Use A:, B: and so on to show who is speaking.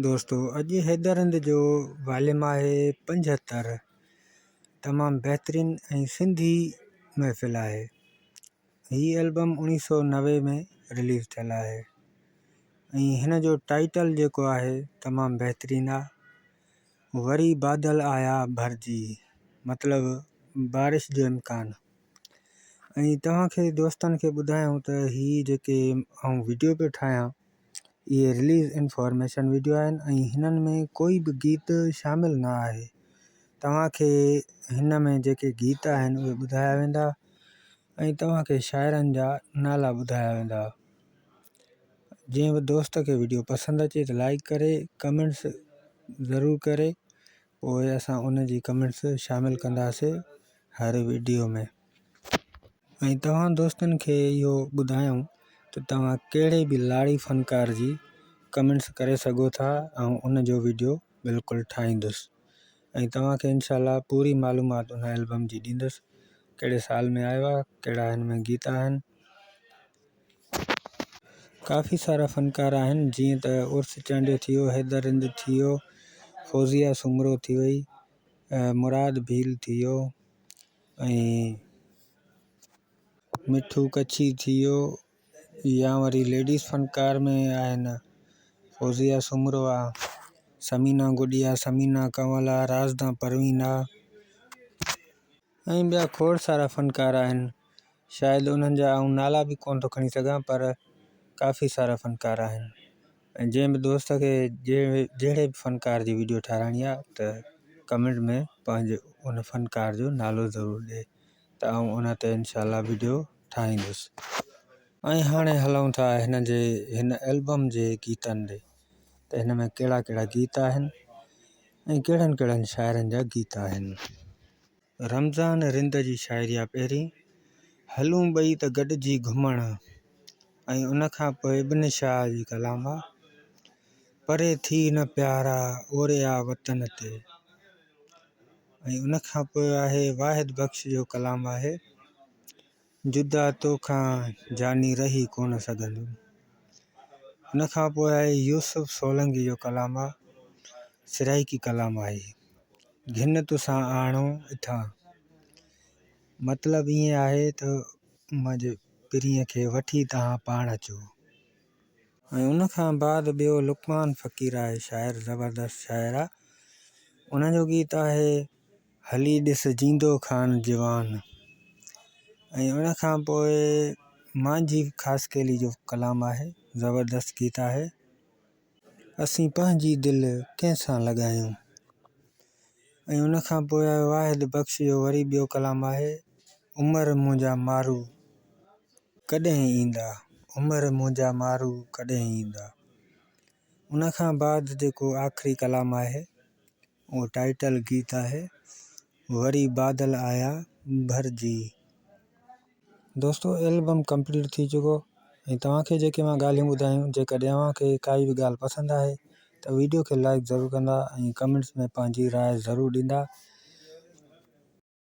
A: دوستو اڄ حيدر هند جو واليوم آهي پنجهتر تمام بهترين ۽ سنڌي محفل آهي هي البم اڻيهه سو نوي ۾ رليز ٿيل آهي ۽ هن جو ٽائيٽل جيڪو آهي تمام بهترين آهي وري بادل آيا ڀرجي مطلب بارش جو امڪان ۽ توهان کي دوستن کي ٻڌايون ته هي جيڪي آئون وڊيو پيو ٺاهيان اهي رليز انفارميشن وڊيو آهن ۽ هنن ۾ ڪوئي به گيت شامل نه آهي توهان کي هن ۾ جيڪي گيت آهن اهي ٻڌايا ويندا ۽ توهان کي شاعرن جا نالا ٻڌايا ويندا جنهن به دوست کي وڊيو پسند اچي ته لائڪ ڪري ڪمينٽس ضرور ڪري پوء اسان ان جي ڪمينٽس شامل ڪنداسي هر وڊيو ۾ ۽ توهان دوستن کي اهو ٻڌايون ته توهان ڪهڙي به لاڙي فنڪار جي ڪمينٽس ڪري سگهو ٿا آئون ان جو وڊيو بلڪل ٺاهيندس ۽ توهان کي انشاء الله پوري معلومات ان البم جي ڏيندس ڪهڙي سال ۾ آيو آهي ڪهڙا هن ۾ گيت آهن ڪافي سارا فنڪار آهن جيئن ته عرس چانڊيو ٿي ويو حيدر رند ٿي ويو فوزيا سومرو ٿي وئي مراد ڀيل ٿي ويو ۽ مٺو ڪڇي ٿي ويو يا وري ليڊيز فنڪار ۾ آهن فوزيا سومرو آ سمينا گڏيا سمينا ڪنول آ رازدا پروين آ ۽ ٻيا کوڙ سارا فنڪار آهن شايد انهن جا آئون نالا به ڪونه ٿو کڻي سگهان پر ڪافي سارا فنڪار آهن ۽ جنهن به دوست کي جهڙي به فنڪار جي ويڊيو ٺاراهڻي آهي ته ڪمينٽ ۾ پنهنجي ان فنڪار جو نالو ضرور ڏي ته آئون ان تي انشاء الله ويڊيو ٺاهيندس ۽ هاڻي هلون ٿا هن جي هن البم جي گيتن ڏي ته هن ۾ ڪهڙا ڪهڙا گيت آهن ۽ ڪهڙن ڪهڙن شاعرن جا گيت آهن رمضان رند جي شاعري آ پهرين، هلون ٻئي ته گڏجي گهمڻ ۽ ان کان پوء ابن شاهه جي ڪلام آ، پري ٿي نه پيارا اوري آ وطن تي ۽ ان کان پوء آهي واحد بخش جو ڪلام آهي. جدا توکان جاني رهي ڪونه سگهندم. ان کان پوء آهي يوسف سولنگي جو ڪلام آ سرائيڪي ڪلام آهي گهن توسان آڻو اٿان مطلب ائين آهي ته منهنجي پرينء کي وٺي تهان پاڻ اچو. ۽ ان کان بعد ٻيو لقمان فقير آهي شاعر زبردست شاعر آ ان جو گيت آهي هلي ڏس جيندو خان جوان ۽ ان کان پوء مانجهي خاصخيلي جو ڪلام آهي زبردست گيت آهي اسين پنهنجي دل ڪنهن سان لڳايون ۽ ان کان پوء واحد بخش جو وري ٻيو ڪلام آهي عمر منهنجا مارو ڪڏهن ايندا عمر منهنجا مارو ڪڏهن ايندا ان کان بعد جيڪو آخري ڪلام آهي اهو ٽائيٽل گيت آهي وري بادل آيا ڀرجي. دوستو البم ڪمپليٽ ٿي چڪو ۽ توهان کي جيڪي مان ڳالهيون ٻڌايون جيڪڏهن اوهان کي ڪائي به ڳالهه پسند آهي ته ويڊيو کي لائڪ ضرور ڪندا ۽ ڪمينٽس ۾ پنهنجي راء ضرور ڏيندا.